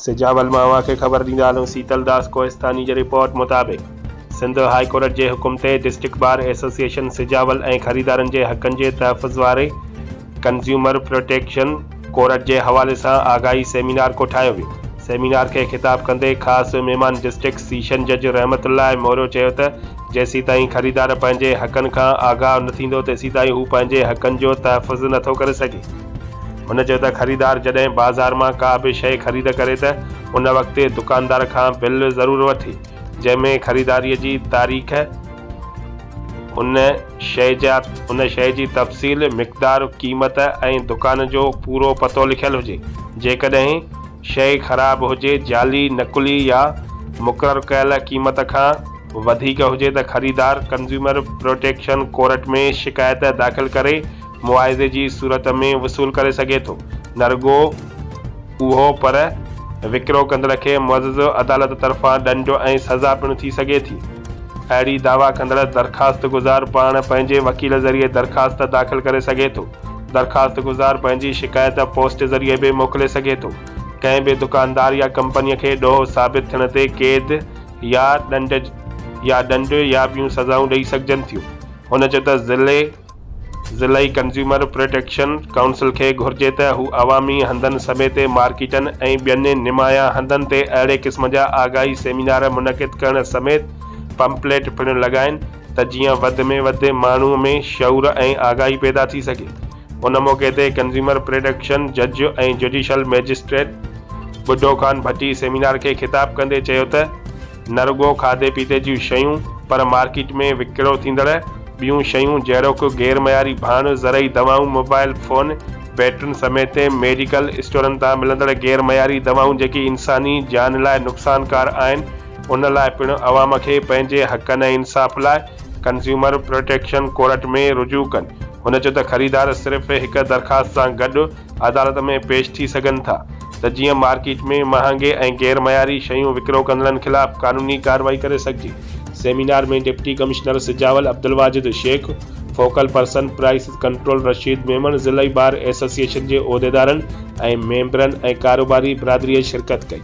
سجاول مان اوهان کي خبر ڏيندا هلون سيتل داس ڪوهستاني جي رپورٽ مطابق سنڌ هاء ڪورٽ جي حڪم تي ڊسٽرڪٽ بار ايسوسيئيشن سجاول ۽ خريدارن جي حقن جي تحفظ واري ڪنزيومر پروٽيڪشن ڪورٽ جي حوالي سان آگاهي سيمينار ڪوٺايو ويو. سيمينار کي خطاب ڪندي خاص مهمان ڊسٽرڪٽ سيشن جج رحمت الله موريو چيو ته جيسيتائين خريدار پنهنجي حقن کان آگاهه نه ٿيندو تيسيتائين هو پنهنجي حقن جو تحفظ نه ٿو ڪري سگهي. هن چيو ته خريدار جڏهن بازار مان ڪا به شيء خريد ڪري ته ان وقت دڪاندار کان بل ضرور وٺي جنهن ۾ خريداري جي تاريخ، ان شيء جا ان شيء جي تفصيل، مقدار، قيمت ۽ دڪان جو پورو پتو لکيل هجي. جيڪڏهن شيء خراب هجي، جعلي، نقلي يا مقرر ڪيل قيمت کان وڌيڪ هجي ته خريدار ڪنزيومر پروٽيڪشن ڪورٽ ۾ شڪايت داخل ڪري معاوضي جي صورت ۾ وصول ڪري سگهي ٿو نه رڳو اهو پر وڪرو ڪندڙ کي معزز عدالت طرفان ڏنڊ ۽ سزا پڻ ٿي سگهي ٿي. اهڙي دعويٰ ڪندڙ درخواستگذار پاڻ پنهنجي وڪيل ذريعي درخواست داخل ڪري سگهي ٿو. درخواستگذار پنهنجي شڪايت پوسٽ ذريعي به موڪلي سگهي ٿو. ڪنهن به دڪاندار يا ڪمپنيء کي ڏوهه ثابت ٿيڻ تي قيد يا ڏنڊ يا ڏنڊ يا ٻيون سزائون ڏئي سگهجن ٿيون. هن چيو ته ضلعي ضلعي ڪنزيومر پروٽيڪشن ڪائونسل کي گهرجي ته هو عوامي هنڌن سميت مارڪيٽن ۽ ٻين نمايان هنڌن تي اهڙي قسم جا آگاهي سيمينار منعقد ڪرڻ سميت پمپليٽ پڻ لڳائين ته جيئن وڌ ۾ وڌ ماڻهو ۾ شعور ۽ آگاهي پيدا ٿي سگهي. ان موقعي تي ڪنزيومر پروٽيڪشن جج ۽ جڊيشل مئجسٽريٽ ٻڍو خان ڀٽي سيمينار کي خطاب ڪندي چيو ته، نه رڳو کاڌي پيتي جون شيون پر مارڪيٽ ۾ وڪرو ٿيندڙ ٻيون شيون جهڙوڪ غير معياري ڀاڻ، زرعي دوائون، موبائل فون، بيٽرين سميت ميڊيڪل اسٽورن تان ملندڙ غير معياري دوائون جيڪي انساني جان لاء نقصانڪار آهن ان لاء پڻ عوام کي پنهنجي حقن ۽ انصاف لاء ڪنزيومر پروٽيڪشن ڪورٽ ۾ رجوع ڪن هن چيو ته خريدار صرف هڪ درخواست سان گڏ عدالت ۾ پيش ٿي سگهن ٿا ته جيئن مارڪيٽ ۾ مهانگي ۽ غير معياري شيون وڪرو ڪندڙن خلاف قانوني ڪارروائي ڪري سگهجي. Seminar ۾ deputy commissioner Sujawal Abdul Wajid Shaikh, focal person prices control Rasheed Memon, ضلعي بار ايسوسيئيشن جي عهديدارن ۽ ميمبرن ۽ ڪاروباري برادريء شرڪت ڪئي.